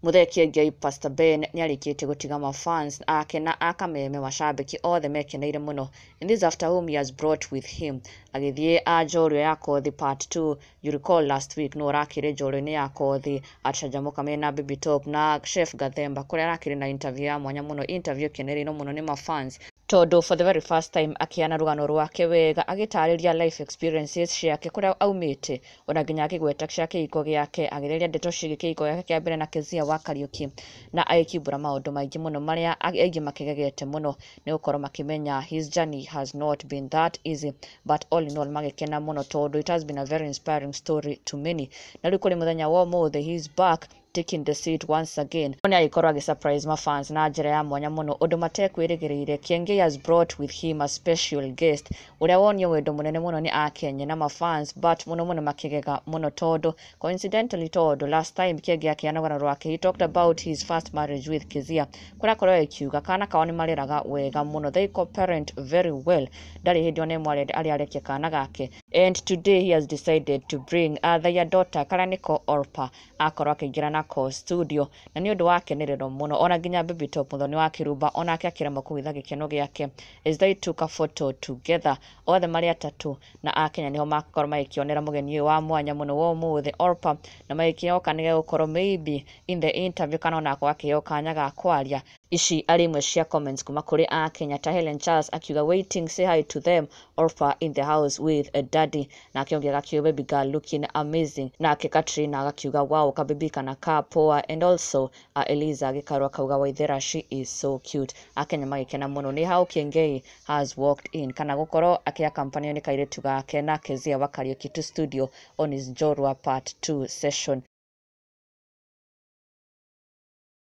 Mũthekie Ngei Pastor Ben nĩarĩkĩte gũtiga ma fans ake na a kameme macambĩki othe mekeneire mũno in this after whom he has brought with him agĩthiĩ a njorua ya kothi part 2 you recall last week nũ ũrakĩrĩ njorua-inĩ ya kothi acanjamũka mena Bibi Top na Chef Gathemba kũrĩa arakĩrĩ na interview ya mwanya mũno interview ĩkenereirwo mũno nĩ ma fans tondũ for the very first time akĩana rũgano rwake wega agĩtarĩria life experiences ciake kũrĩa aumĩte ona nginya akĩgweta cia kĩhiko gĩake agĩtheria ndeto ciĩgiĩ kĩhiko gĩake kĩa mbere na Kezia wa Kariuki na agĩkimbũra maũndũ maingĩ mũno marĩa aingĩ makĩgegete mũno nĩ gũkorwo makĩmenya his journey has not been that easy but all in all magĩkena mũno tondũ it has been a very inspiring story to many na rĩu kũrĩ mũthenya wa ũmũthĩ he is back taking the seat once again no nĩarĩkorwo agĩ surprise ma fans na njĩra ya mwanya mũno ũndũ matekwĩrĩgĩrĩire, Kiengei has brought with him a special guest ũrĩa wonio wendo mũnene mũno nĩ Akenye na ma fans but mũno mũno makĩgega mũno tondũ coincidentally tondũ last time Kiengei akĩheana rũgano rwake he talked about his first marriage with Kezia kũrĩa akoragwo akiuga kana kao nĩmareraga wega mũno they co-parent very well ndarĩ hĩndĩ ona ĩmwe arenda arĩa arekia kana gake and today he has decided to bring uh, their daughter karĩa nĩko Orpah akorwo akĩingĩra na Coz Studio, na nĩ ũndũ wa akenererwo mũno. Ona nginya Baby Top mũthoni wa Kĩrumba onake akĩremwo kũhitha gĩkeno gĩake as they took a photo together. Othe marĩ atatũ na Akenya nĩho makorwo magĩkĩonera mũgeni ũyũ wa mwanya mũno wa ũmũthĩ Orpah, na magĩkĩhoka nĩ gegũkorwo maybe in the interview kana ona akorwo akĩheo kanya ga kwaria. Ici arĩ imwe cia comments kuma kũrĩ a Kenya ta Hellen Charles akiuga waiting say hi to them Orpha in the house with a daddy nake ũngĩ agakiuga baby girl looking amazing nake Katrina agakiuga wow ka baby kana ka poa and also a Eliza Gĩkaru akauga Waithera she is so cute a Kenya magĩkena mũno nĩ how Kĩengei has walked in kana gũkorwo akĩakampanio nĩ kairĩtu gake na Kezia wa Kariuki to studio on his Njorua part 2 session